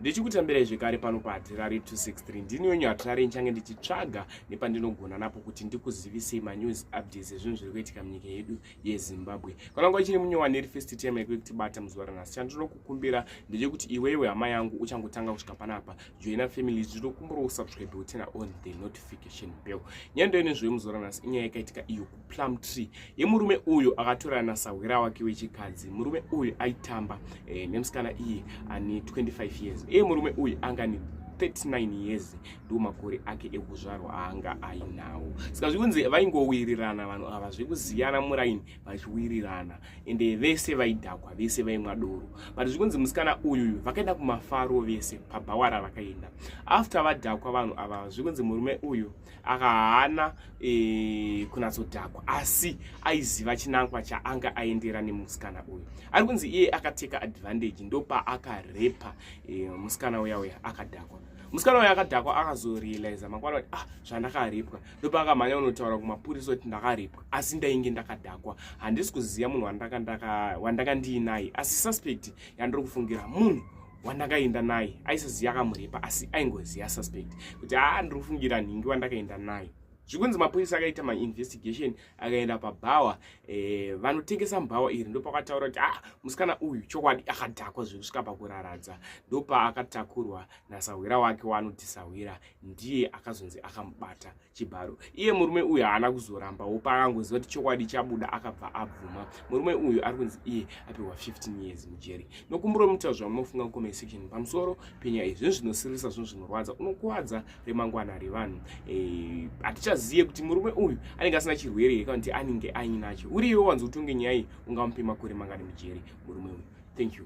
ndichikutambirai zvekare pano pahatirari 263 ndini wenyu hatirari nchange ndichitsvaga nepandinogona napo kuti ndikuzivisei manews updates ezvinhu zviri kuitika munyika yedu yezimbabwe kana nguva chiri munyowani iri first time yekuve kutibata muzuva ranhasi chandinokukumbira ndechekuti iwewe hama yangu uchangotanga kusvika panapa joina family zvinokumbirawo subscribe utena on the notification bell nyaya ndoine zvoye muzuva ranhasi inyaya yakaitika iyo plum tree yemurume uyu akatorana nasahwira wake wechikadzi murume uyu aitamba eh, nemusikana iyi ani 25 years iye murume uyu anga ni 39 years ndiwo makore ake ekuzvarwa aanga ainawo saka zvikunzi vaingowirirana vanhu ava zvekusiyana muraini vachiwirirana ende vese vaidhakwa vese vaimwa doro but zvikunzi musikana uyuyu vakaenda kumafaro vese pabhawara vakaenda after vadhakwa vanhu ava zvikunzi murume uyu aka haana e, kunatsodhakwa asi aiziva chinangwa chaanga aendera nemusikana uyu ari kunzi iye akateka advantage ndopaakarepha e, musikana uya uya akadhakwa musikana uya akadhakwa akazorealiza mangwana kuti ah zvandakaripwa ndopaakamhanya unotaura kumapurisa kuti ndakaripwa asi ndainge ndakadhakwa handisi kuziva munhu wandaka ndiinaye asi suspect yandiri kufungira munhu wandakaenda naye aisaziva akamuripa asi aingoziva suspect kuti haa ndiri kufungira nhingi wandakaenda naye zvikunzi mapurisa akaita mainvestigation akaenda pabhawa eh, vanotengesa mubhawa iri ndopakataura kuti ah musikana uyu chokwadi akadhakwa zvekusvika pakuraradza ndopaakatakurwa nasahwira wake waanoti sahwira ndiye akazonzi akamubata chibharo iye murume uyu haana kuzorambawo paakangoziva kuti chokwadi chabuda akabva abvuma murume uyu ari kunzi iye apihwa 15 years mujeri nokumbura muita zvamunofunga kucomment section pamusoro penyaya iyi zvinhu zvinosiririsa zvinhu zvinorwadza unokuvadza remangwana revanhu eh, hatichazive kuti murume uyu anenge asina chirwere here kana kuti anenge ainacho uriiwe wanzi utonge nyaya iyi ungamupe makore mangani mujeri murume uyu thank you